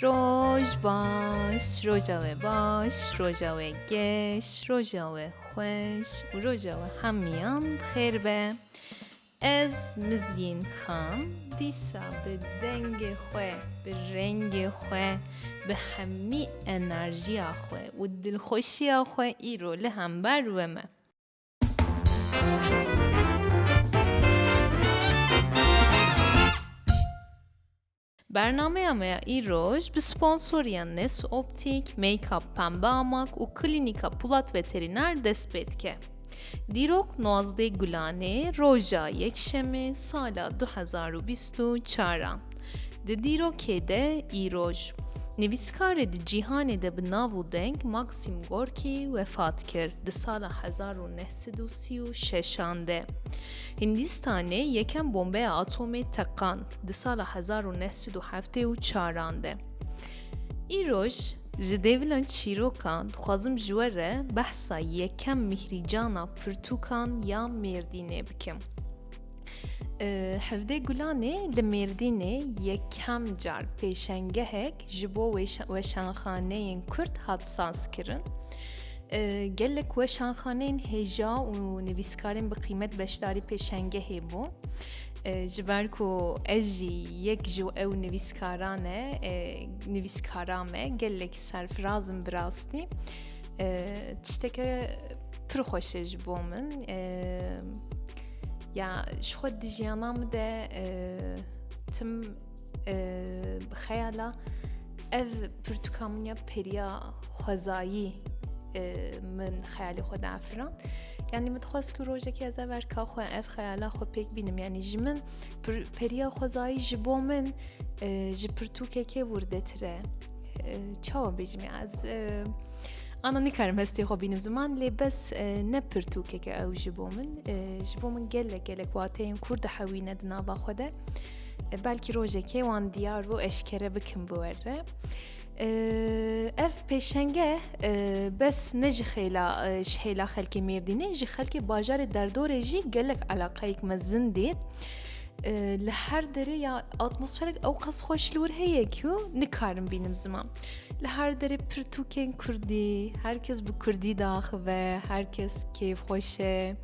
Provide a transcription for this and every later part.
Roj baş, roja we baş, roja we geş, roja we xweş û roja we hemiyan bi xêr be. Ez Mizgîn Xan dîsa bi dengê xwe, bi rengê xwe, bi hemî enerjiya xwe û dilxweşiya xwe îro li hember we me. Bernameya me ya îroj bi sponsoriya Nes Optik, Makeup Pembe Amak û Klînîka Pulat Veterîner dest pê dike. Dîrok Nuazdeh Gulanê roja Yekşemê sala du hezar û bîst û çar a Di dîrokê de îroj, nivîskarê di cîhanê de bi nav û deng Maksim Gorkî wefat kir di sala hezar û neh sed û sî û şeşan de. Hindîstanê yekem bombeya atomê teqand di sala hezar û neh sed û heftê û çaran de. Îroj ji dêvilan çîrokan dixwazim ji we re behsa yekem mîhrîcana pirtûkan ya Mêrdînê bikim. Hevdê Gulanê li Mêrdînê yekem car pêşengehek ji bo weşanxaneyên Kurd hat sazkirin. Gelek weşanxaneyên hêja û nivîskarên bi qîmet beşdarî pêşengehê bû. Ji ber ku ez jî yek ji ew nivîskaran e nivîskara me gelek serfirazim bi rastî tişteke pir xweş e ji bo min. Ya ji xwe di jiyana min de e, tim e, xeyala ev pirtûka min ya periya xwezayî e, min xeyalê xwe de efiran. Yani min dixwaz ku rojekî ez ev erka xwe ev xeyala xwe pêk bînim yani ji min periya xwezayî ji bo min ji pirtûkekê wurdetire. Çawa bêjim ez Ana nikarim hestê xwe bînin ziman lê bes ne pirtûkeke ew ji bo min ji bo min gelek gelek wateyên kur dihewîne di nava xwe de belkî rojekê wan diyar bû eşkere bikim bi we re ev pêşenge bes ne ji xêla ji hêla xelkê mêrdînê ji xelkê bajarê derdorê jî gelek elaqayek me zin dê li her derê ya atmosferek ew qas xweş li wir heye ku nikarim bînim ziman. Li her derê pirtûkên Kurdî, her kes bi Kurdî daxive, her kes kêfxweş e.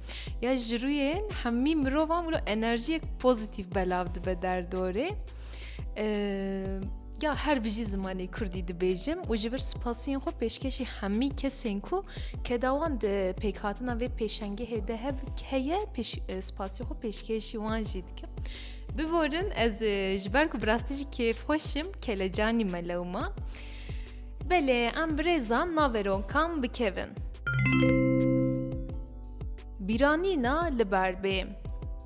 Ya ji rûyên hemî mirovan wilo enerjiyek pozîtîv belav dibe derdorê. Ya her bijî zimanê Kurdî dibêjim û ji vir spasiyên xwe pêşkêşî hemî kesên ku kedawan di pêkhatina vê pêşengehê de hev heye spasiyê xwe pêşkêşî wan jî dikim. Bivorin ez ji ber ku bi rastî jî kêfxweş im kelecanî me lewma. Belê em birêzan navê ronkan bikevin. Bîranîna li ber bê.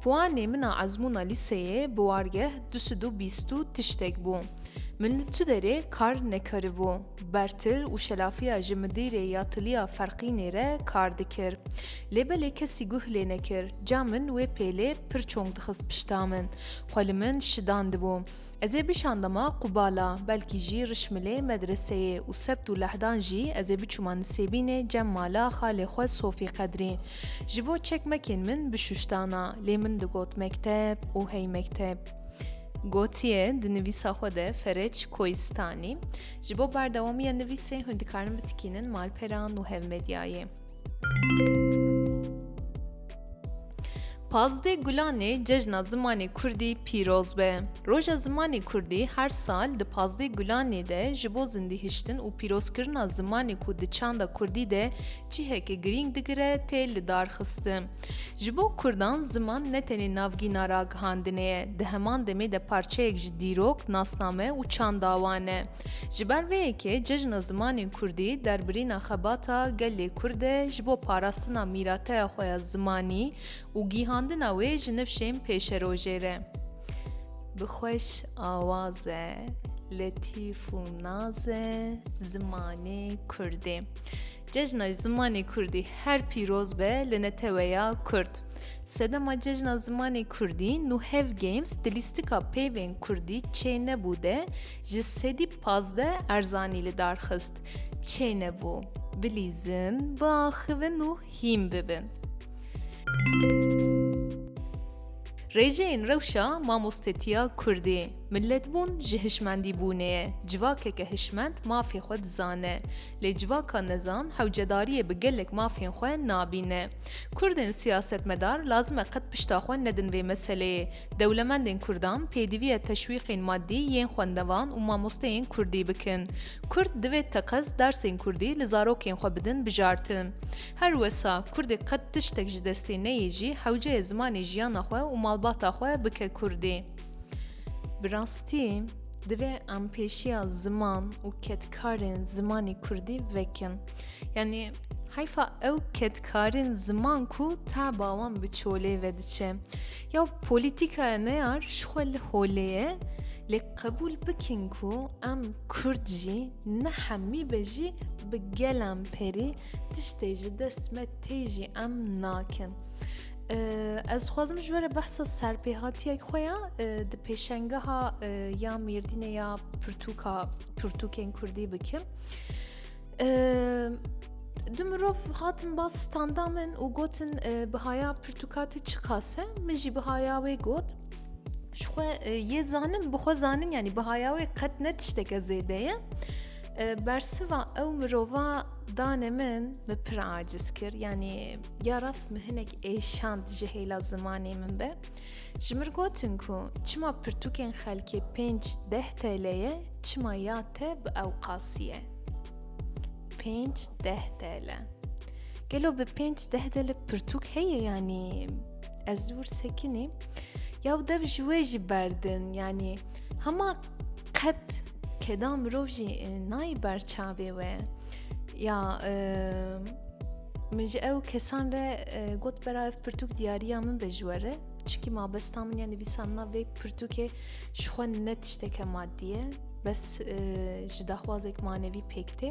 Puanê min a ezmûna lîseyê bi wargeh du sed û bîst û tiştek bû. Min li tu derê kar nekaribû. Bertil û Şelafiya ji midîrê ya tiliya Ferqînê re kar dikir. Lê belê kesî guh lê nekir. Ca min wê pêlê pir çong dixist pişta min. Xwe li min şidan dibû. Ez ê bişandama Qubala, belkî jî Rişmilê medreseyê û sebt û lehdan jî ez ê biçûma Nisêbînê cem mala xalê xwe Sofî Qedrî. Ji bo çekmekên min bişuştana, lê min digot mekteb û hey mekteb. Gotiye di nivîsa xwe de Fereç Koistanî, Ji bo berdewamiya nivîsê hûn dikarin bitikînin malperan û hevmedyayê. Pazdeh Gulanê Cejna Zimanê Kurdî pîroz be. Roja Zimanê Kurdî her sal di pazdeh Gulanê de ji bo zindîhiştin û pîrozkirina zimanê ku di çanda Kurdî de ciheke girîng digire tê lidarxistin. Ji bo kurdan ziman ne tenê navgîna ragihandinê ye, di heman demê de parçeyek ji dîrok, nasname û çanda wan e. Ji ber vê yekê Cejna Zimanên Kurdî derbirîna xebata gelê Kurd e ji bo parastina mîrateya xwe ya zimanî û gîhandina wê ji nifşên pêşerojê re. Bi xweş awaze, letîf û naze zimanê Kurdê. Cejna Zimanê Kurdî her pîroz be li neteweya Kurd. Sedema Cejna Zimanê Kurdî Nuhev Games di lîstika peyvên Kurdî çênebû de ji sedî pazdeh erzanî li dar xist. Çênebû, bilîzin, biaxivin û hîn bibin. Rêjeyên rewşa mamostetiya Kurdî, milletbûn ji hişmendîbûnê ye, civakeke hişmend mafê xwe dizane, Lê civaka nezan hewcedariyê bi gelek mafên xwe nabîne. Kurdên siyasetmedar lazim e qet pişta xwe nedin vê meseleyê. Dewlemendên kurdan pêdiviye teşwîqên maddî yên xwendevan û mamosteyên kurdî bikin. Kurd divê teqez dersên kurdî li zarokên xwe bidin bijartin. Her wisa kurdê qet tiştek ji destê neyê jî hewceyê zimanê jiyana xwe û malbata xwe bike kurdî. Bi rastî divê em pêşiya ziman û ketkarên zimanî kurdî vekin. Yanî heyfa ew ketkarên ziman ku teba wan bi çolê ve diçe. Ya polîtîkaya neyar ji xwe li holê ye lê qebûl bikin ku em kurd jî ne hemî be jî bi gelan perî tiştê ji dest me tê jî em nakin. Ez dixwazim ji were behsa serpêhatiyek xwe ya di pêşengeha ya mêrdînê ya pirtûka pirtûkên kurdî bikim. Du mirov hatin bas standa min û gotin bihaya pirtûkatê çi qase min jî bihaya wê got ji xwe yê zanim bi xwe zanim yanî bihaya wê qet ne tişteke zêde ye. Bersiva ew mirova danê min bi pir aciz kir yanî ya rast min hinek êşand ji hêla zimanê min be. Ji mir gotin ku çima pirtûkên xelkê pênc deh TL'ye çima ya te bi ewqasî ye. Pênc deh TL. Gelo bi pênc deh TL pirtûk heye yanî ez dûr sekinî ya û dev ji wê jî berdin yanî hema qet keda mirov jî nayî berçavê we ya Min ji ew kesan re got bera ev pirtûk diyariya min be ji we re çikî mabesta min ya nivîsandina vê pirtûkê ji xwe ne tişteke madî ye bes ji daxwazek manevî pêk tê.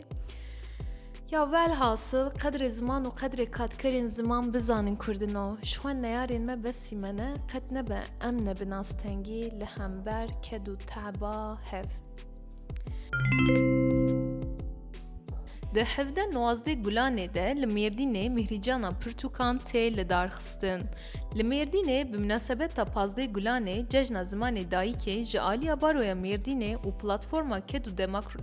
Ya velhasil qedrê ziman û qedrê katkerên ziman bizanin kurdino ji xwe neyarên me besî me ne qet nebe em ne bi nastengî li hember ked û teba hev. Di hevde nozdeh Gulanê de li Mêrdînê Mihrîcana Pirtûkan tê lidarxistin. Li Mêrdînê bi minasebeta pazdeh Gulanê Cejna Zimanê Dayikê ji aliya Baroya Mêrdînê û Platforma Ked û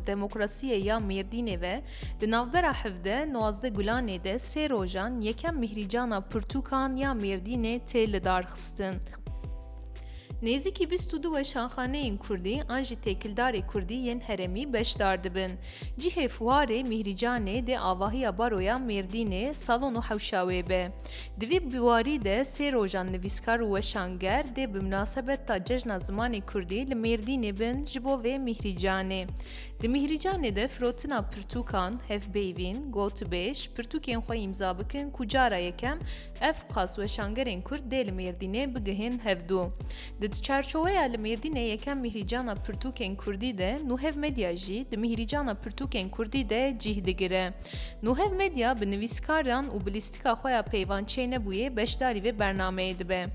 Demokrasiyê ya Mêrdînê ve di navbera hevde nozdeh Gulanê de sê rojan yekem Mihrîcana Pirtûkan ya Mêrdînê tê lidarxistin. Nêzîkî bîst û du weşanxaneyên Kurdî an jî têkildarê Kurdî yên herêmî beşdar dibin. Cihê fuarê Mîhrîcanê dê avahiya Baroya Mêrdînê, Salon û Hewşa wê be. Di vî biwarî de sê rojan nivîskar û weşanger dê bi minasebeta Cejna Zimanê Kurdî li Mêrdînê bin ji bo vê Mîhrîcanê. Di Mîhrîcanê de firotina pirtûkan, hevpeyvîn, gotûbêj, pirtûkên xwe îmza bikin ku cara yekem Ev qas weşangerên Kurd dê li Mêrdînê bigihên hevdu. Di çarçoweya li Mêrdînê yekem mîhrîcana pirtûkên Kurdî de Nuhev Medya jî di mîhrîcana pirtûkên Kurdî de cîh digire. Nuhev Medya bi nivîskaran û bi lîstika xwe ya peyvan çênebûyê beşdarî vê bernameyê dibe.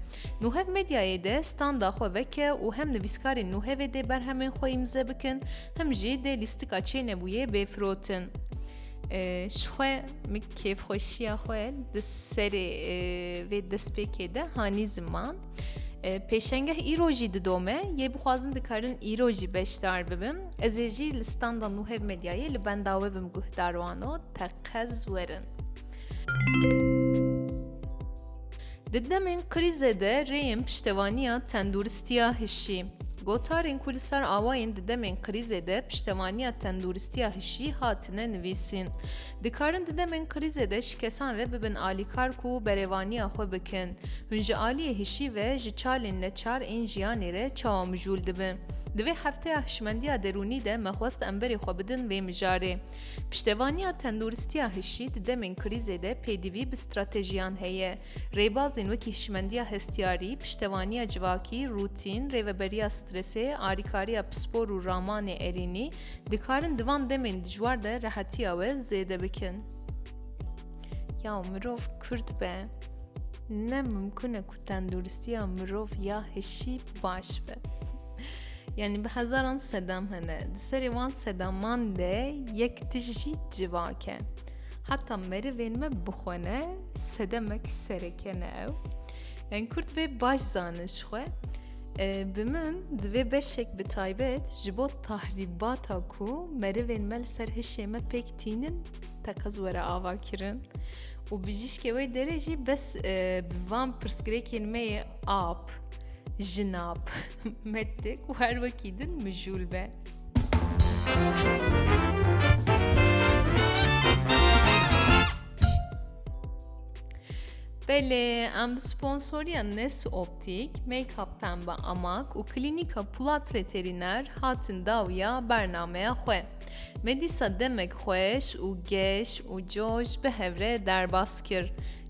Nuhev Medyayê de standa xwe veke û hem nivîskarên Nuhevê dê berhemên xwe îmze bikin him jî dê lîstika çênebûyê bê firotin. Ji xwe min kêfxweşiya xwe di serê vê destpêkê de hanî ziman. Pêşengeh îro jî didome yê bixwazin dikarin îro jî beşdar bibim. Ez ê jî li standa nûhev medyayê li benda we bim guhdar wano teqez werin. Di demên krîzê de rêyên piştevaniya tenduristiya hişî. Gotarên ku li ser awa yên di demên krîzê de piştevaniya tenduristiya hişî hatine nivîsîn. Dikarin di demên krîzê de ji kesan re bibin alîkar ku berevaniya xwe bikin. Hûn ji aliyê hişî ve ji çalên neçar ên jiyanê re çawa mijûl dibin? Di vê hefteya hişmendiya derûnî de me xwest em berê xwe bidin vê mijarê. Piştevaniya tenduristiya hişî di demên krîzê de pêdivî bi stratejiyan heye. Rêbazên wekî hişmendiya hestiyarî, piştevaniya civakî, rûtîn, rêveberiya stresê, alîkariya pispor û ramanê erênî dikarin di van demên dijwar de rehetiya we zêde bikin. Ya mirov kurd be ne mimkun e ku Tenduristiya mirov ya hişî baş be. Yani bi hezaran sedam hene. Di serê wan sedaman de yek tijî civake. Heta merivên me bixwene sedemek serekene ew. Yani Kurd vê baş zanin ji xwe. Bi min di vê beşek bi taybet ji bo tahrîbata ku merivên me li ser hişê me pêk tînin teqez were avakirin û bijîşkê wê derê jî bes e, bi van pirsgirêkên me yê ap, jinap, mettik û her wekî din mijûl be. Belê em bi sponsoriya Nes Optik, Make-up Pembe Amak û Klînîka Pulat Veterîner hatin dawiya bernameya xwe. Me dîsa demek xweş û geş û coş bi hevre derbas kir.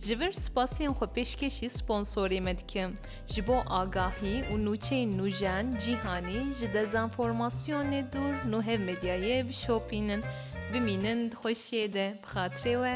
Ji vir spasiyên xwe pêşkêşî sponsorê me dikim. Ji bo agahî û nûçeyên nûjen cîhanî ji dezanformasyonê dûr nuhev medyayê bişopînin. Bimînin di xweşiyê de bi xatirê we.